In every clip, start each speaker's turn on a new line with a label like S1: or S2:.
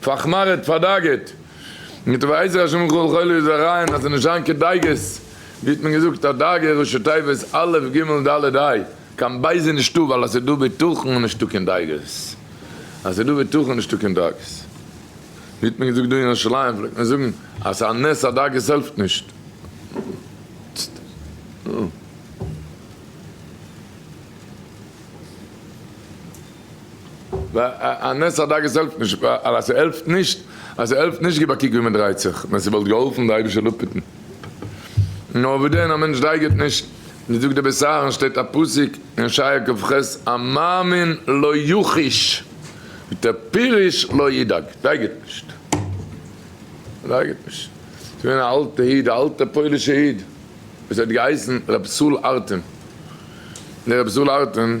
S1: פארחמארעט, פארדאגה'ט, מיט ווייזער השם וכל חולי זרעיין, אז נישט זיין כדאגות, ווי האט מען געזאגט, א דאגה ראשי תיבות א' ג' ד' ה', קיין בייז איז נישטא ווייל אז ס'איז דא בטחון איז נישטא קיין דאגות, אז ס'איז דא בטחון איז נישטא קיין דאגות, ווי האט מען געזאגט דא אין ירושלים פלעגט מען זאגן אז ס'איז א נס אז דאגות העלפט נישט. א נס הדג עס העלפט נישט, ווייל אז ס'העלפט נישט, אז ס'העלפט נישט גיב א קוק ווי מ'דרייט זיך, ווען ס'וואלט געהאלפן די אייבישטער אפהיטן נאר וואס דען א מענטש דייגערט נישט, ווי זאגט דער בית אהרן שטייט א פסוק אין שעיה כב ח א מאמין לא יחיש מיט א פירוש לא ידאג דייגערט נישט, דייגערט נישט, ס'איז געווען א אלטע איד א אלטע פוילישע איד וואס האט געהייסן ר' סול ארטען, דער ר' סול ארטען.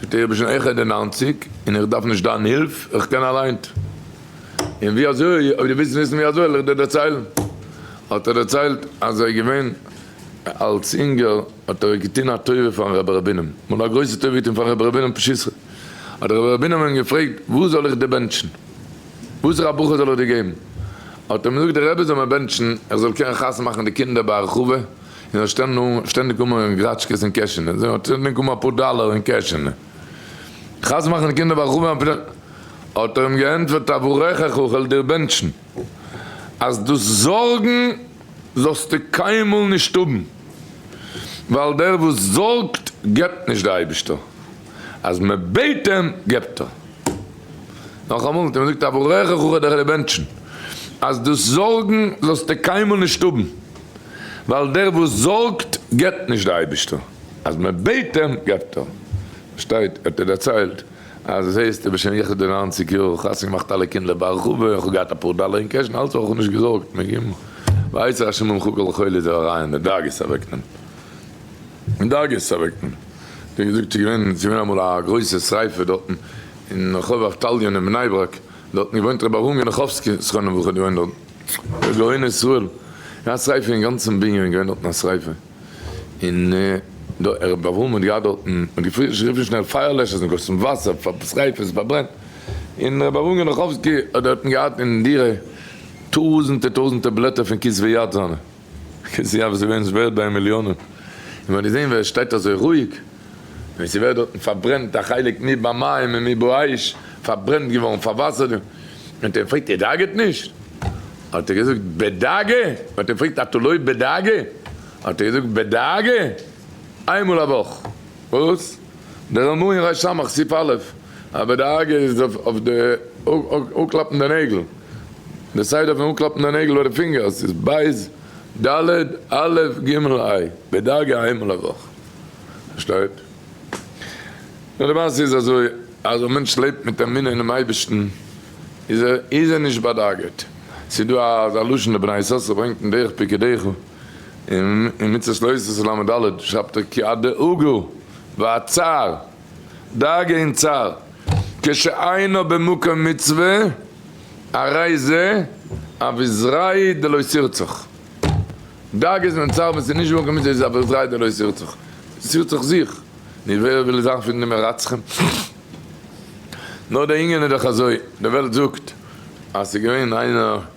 S1: זאגט ער איך בין שוין העכער די נײַנציק און איך דארף נישט דיין הילף איך קען אליינט און ווי אזוי אויב דו ווילסט וויסן ווי אזוי וועל איך דיר דערציילן האט ער דערציילט אז ער איז געווען אלס אינגער האט ער געטון א טובה פארן רבי רבינם מאל א גרויסע טובה געטון פארן רבי רבינם פשיסחא האט דער רבי רבינם אים געפרעגט וואס זאל איך דיר בענטשן וואסערע א ברכה זאל איך דיר געבן האט אים געזאגט דער רבי זאל מיר בענטשן איך זאל קענען חתונה מאכן די קינדער ביי הרחבה און האט שטענדיג אנגעהויבן גראטשקעס אין קעשענע, זי האט שטענדיג אנגעהויבן אפאר דאלער אין קעשענע, כעס צו מאכן די קינדער ביי רחבעם אפילו, האט ער אים געענטפערט אברכך אוכל דיר בענטשן, אז דאס זארגן זאלסטו קיינמאל נישט האבן, ווייל דער וואס זארגט געבט נישט, דער אייבישטער אז מען בעט אים געבט ער. נאכאמאל האט ער אים געזאגט אברכך אוכל דיר בענטשן, אז דאס זארגן זאלסטו קיינמאל נישט האבן. ווייל דער וואס זארגט געבט נישט, דער אייבערשטער אז מען בעט אים געבט ער, שטייט האט ער דערציילט אז עס הייסט בשם יחוד די נײַנציק יאר איך האב חתונה געמאכט אלע קינדער בהרחבה איך האב געהאט אפאר דאלער אין קעש און אלץ אויך נישט געזארגט מ ג ויצר השם ממך כל חולי זיך אריין די דאגות אוועקנעמען די דאגות אוועקנעמען ווי ער געזאגט ס'איז געווען ס'איז געווען אמאל א גרויסע שריפה דארטן אין רחוב אבטליון אין בני ברק דארטן געוואוינט רבי אהרן גענעכאווסקי זכרונו לברכה האט געוואוינט דארטן. די גאוני ישראל געהאט א שריפה אינגאנצען בנין איז געווען דארטן א שריפה אין דער רבי אברהם האט געהאט דארטן האט גערופן שנעל פייער לעשערס און געגאסן וואסער פאר שריפה עס פארברענט אין רבי אברהם גענאכאווסקי האט דארטן געהאט אין דירה טויזענטע טויזענטע בלעטער פון כתבי יד זיינע. קענסט זיי אויפזען ווער עס ווערט ביי מיליאנען און ווען די זען ווער עס שטייט אזוי רואיג ווען עס איז ווערט דארטן פארברענט א חלק מי במים ומי באש פארברענט געווארן פארוואסערט און האט אים געפרעגט איר דאגה'ט נישט האט ער געזאגט בדאגה האט אים געפרעגט אתה לא בדאגה האט ער געזאגט בדאגה איינמאל א וואך וואס דער אמרי רשמח סי' א' א בדאגה איז אויף די אנקלאפן די נעגל. די סייד אויפן אנקלאפן די נעגל ביי די פינגערס איז בית ד' א' ג' ע' בדרגה א איינמאל א וואך. פארשטייט? נאר די מעשה איז אזוי אז א מענטש לעבט מיט אמונה אינעם אייבערשטן איז ער איז ער נישט באדאגה'ט. ס'איז דא אזא לשון די בני יששכר ברענגט אין דרך פיקי דעיכא אין מצות לא עושה ס' ל' ד' שרייבט ער כי הדאגה והצער. דאגה און צער כשאינו במקום מצוה, הרי זה אביזריי' דלא שירצוך. דאגות און צער ווען ס'איז נישט במקום מצוה איז אביזריי' דלא שירצוך. ס'שירט זיך זיך. נו ווער וויל זיין פון די מרצחים? נאר די ענין איז דאך אזוי, די וועלט זאגט אז ס'איז געווען איינער.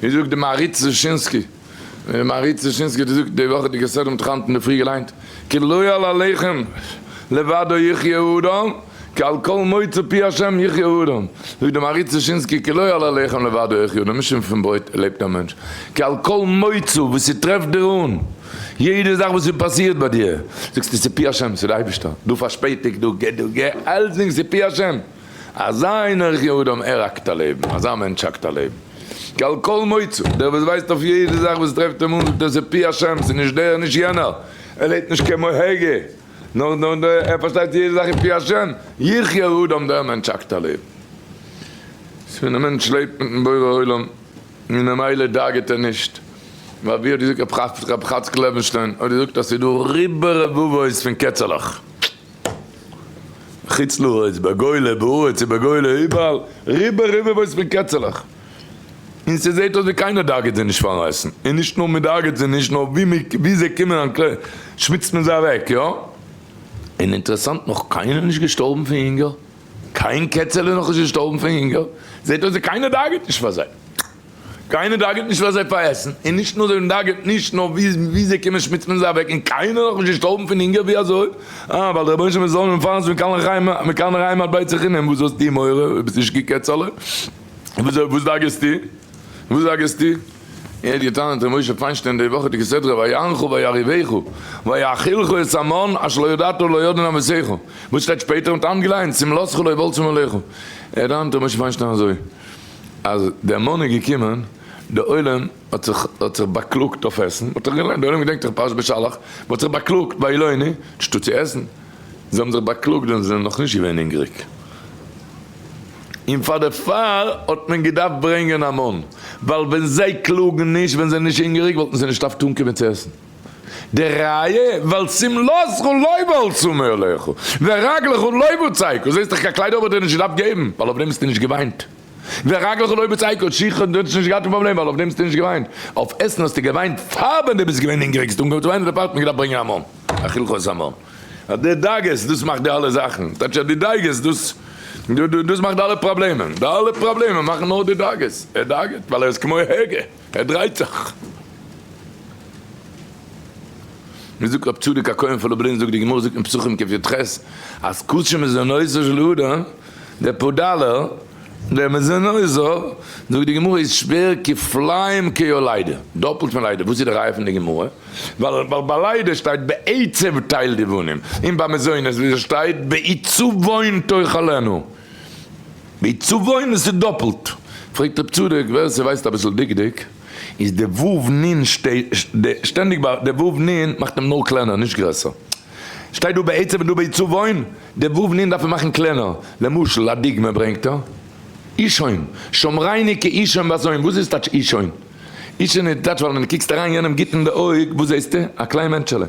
S1: ווי זאגט די מהריץ דושינסקי, די מהריץ דושינסקי האט געזאגט די וואך האט די כסדר מיט היינט אינדערפרי געליינט, כי לא על הלחם לבדו יחיה האדם, כי על כל מוצא פי השם יחיה האדם, זאגט די מהריץ דושינסקי, כי לא על הלחם לבדו יחיה האדם, נישט פון ברויט לעבט א מענטש, כי על כל מוצא וואס ס'טרעפט דיר אן, יעדע זאך וואס ס'פאסירט ביי דיר, זאגסטו ס'פי השם, ס'די אייבערשטער, דא פארשפעטיגט, דא געט, דא גע, אלצדינג ס'פי השם. אזא איינער איך יהודם ער האקט א לעבן, אזא מענטש האקט א לעבן. כעל כל מוצא, דער וואס ווייסט אויף יעדע זאך וואס טרעפט אים אן זאגט ער ס'פי השם, ס'נישט דער נישט יענער, ער לעבט נישט כעם הוגה, נאר נאר ער פארשטייט יעדע זאך איז פי השם, איך יהודם דער מענטש האקט א לעבן. ס'איז פון די מענטש לעבט מיטן בורא עולם און ממילא דאגה'ט ער נישט, ווייל ווי האט געזאגט רב חצקל לעבענשטיין האט געזאגט אז ס'איז דא ריבו רבבות פון קעצעלעך. חוץ לארץ, בגולה, בארץ און בגולה, איבעראל, ריבא ריבא וואויס פון קעצעלעך. און ס'זעהט אויס ווי קיינער דאגה'ט זיי נישט פארן רייסן. און נישט נאר מ'דאגה'ט זיי נישט, נאר ווי מ'ק, ווי זיי קומען אן קלער, שמוצט מען זיי אוועק, יא? און אינטערעסאנט, נאך קיינער נישט געשטארבן פון הונגער. קיין קעצעלע נאך נישט געשטארבן פון הונגער. זעהט אויס ווי קיינער דאגה'ט נישט פאר זיי. קיינער דאגה'ט נישט פאר זיי פאר עסן, און נישט נאר זיי דאגה'ט נישט נאר ווי זיי קומען שמוצט מען זיי אוועק און קיינער איז נאך נישט געשטארבן פון הונגער, ווי אזוי? אה, ווייל דער רבונו של עולם זאל אים מפרנס זיין מכאן לחיים מכאן לחיים עד בית החינם, וואס האסטו מורא? ביסט נישט גוט קעצעלע? וואס וואס דאגה'סטו? וואס דאגה'סטו? ער האט געטענה'ט ר' משה פיינשטיין די וואכעדיגע סדרה ויענך ויריבך ויאכילך את המן אשר לא ידעת ולא ידעו נביסיך, וואס שטייט שפעטער מיט א האנט געליינט צום לסך ולא יבלצום עליך, ער טענה'ט ר' משה פיינשטיין אזוי. אז דער מאן איז געקומען, דער עולם האט זיך האט זיך באקלאגט אויף עסן, מ'האט דאך געליינט, דער עולם געדענקט דאך פרשת בשלח, מ'האט זיך באקלאגט ביי אילוני, נישטא צו עסן, זיי האבן זיך באקלאגט ווען זיי זענען נאך נישט געווען הונגעריג, און פאר דערפאר האט מען געדארפט ברענגען א מאן, ווייל ווען זיי קלאגן נישט ווען זיי זענען נישט הונגעריג וואלטן זיי נישט אויף טון קומען צו עסן. די ראיה, ווייל שמלתך לא בול צמא אליך, ורגלך לא בוצעקו, זעסט דאך קיין קליידער האט ער דיר נישט געדארפט געבן, ווייל אויף דעם האסטו נישט געוויינט, ורגלך לא בוצעקו, שיך האט דיר נישט געהאט קיין פראבלעם, ווייל אויף דעם האסטו נישט געוויינט, אויף עסן האסטו געוויינט פאר ווען דו ביסט געווען הונגעריג, האסטו אנגעהויבן צו וויינען, דערפאר האט מען געדארפט ברענגען א מן, א חלחול המן, אז די דאגות דאס מאכט די אלע זאכן, טייטש אז די דאגות דאס דאס מאכט די אלע פראבלעמען, די אלע פראבלעמען מאכן נאר די דאגות, ער דאגה'ט ווייל ער איז כמו הוגה. ער דרייט זיך. ווי זאגט רב צדוק הכהן פון לובלין זאגט די גמרא זאגט אין פסחים קעף יט ח אז קדשו מזונותיו של אדם דער פאדלער דער מזונות זאגט די גמרא איז שווער כפליים כיו ליידע דאפלט פון ליידע וואס איז די ראיה פון די גמרא ווייל ביי ליידע שטייט בעצב טייל די בנים און ביי מזונות ווי עס שטייט בעיצובון תאכלנו. די צוואה ןן'ס איז דאפלט. פרעגט רב צדוק, ווער ס'ווייסט אביסל דקדוק, איז די ו' נ' שטענדיג ביי די ו' נ' מאכט אים נאר קלענער נישט גרעסער. שטייט דא בעצם און דא ביי צוואה ן', די ו' נ' דארף מען מאכן קלענער. למשל א דוגמא ברענגט ער, אישון, שמרייני כאישון בזוין, וואס איז טייטש אישון? אישון איז טייטש ווען די קוקסט אריין יענעם גוט אין די אויג, וואס זעהסטו? א קליין מענטשעלע.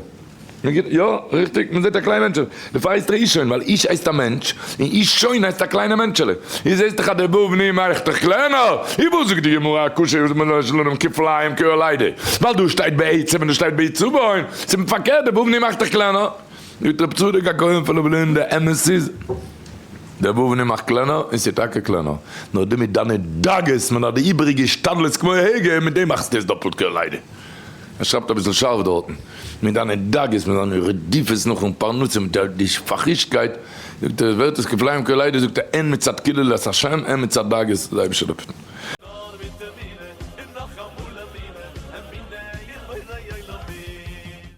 S1: יא, ריכטיג, מען זעט א קליין מענטשעלע, דערפאר הייסט ער אישון, ווייל איש הייסט א מענטש, און אישון הייסט א קליינע מענטשעלע. איז זעסט דאך אז דער בא בנים מאכט דיך קלענער. איבער זאגט די גמרא א קושיא וואס מ'זאל נישט לערנען כפליים כאוהלידע, ווייל דא שטייט בעצם און דא שטייט בעיצבון, ס'איז פארקערט, דער בא בנים מאכט דיך קלענער. זאגט רבי צדוק הכהן פון לובלין דער אמת איז, דער בא בנים מאכט קלענער, און ס'איז טאקע קלענער, נאר דו מיט דיינע דאגות, מען האט די איבעריגע השתדלות כמו הגה, מיט דעם מאכסטו עס דאפלט כאוהלידע. ער שרייבט אביסל שארף דארטן, מיט זיינע דאגות, מיט זיינע רדיפות נאכן פרנסה, מיט די שפאכישקייט, זאגט ער, ווערט עס כפליים כעלידות, זאגט ער, הן מצד קללת השם, הן מצד דאגות די אייבערשטער לופטן. נאר מיט אמונה, און נאך אמאל אמונה, אמונה אין בורא עולמים.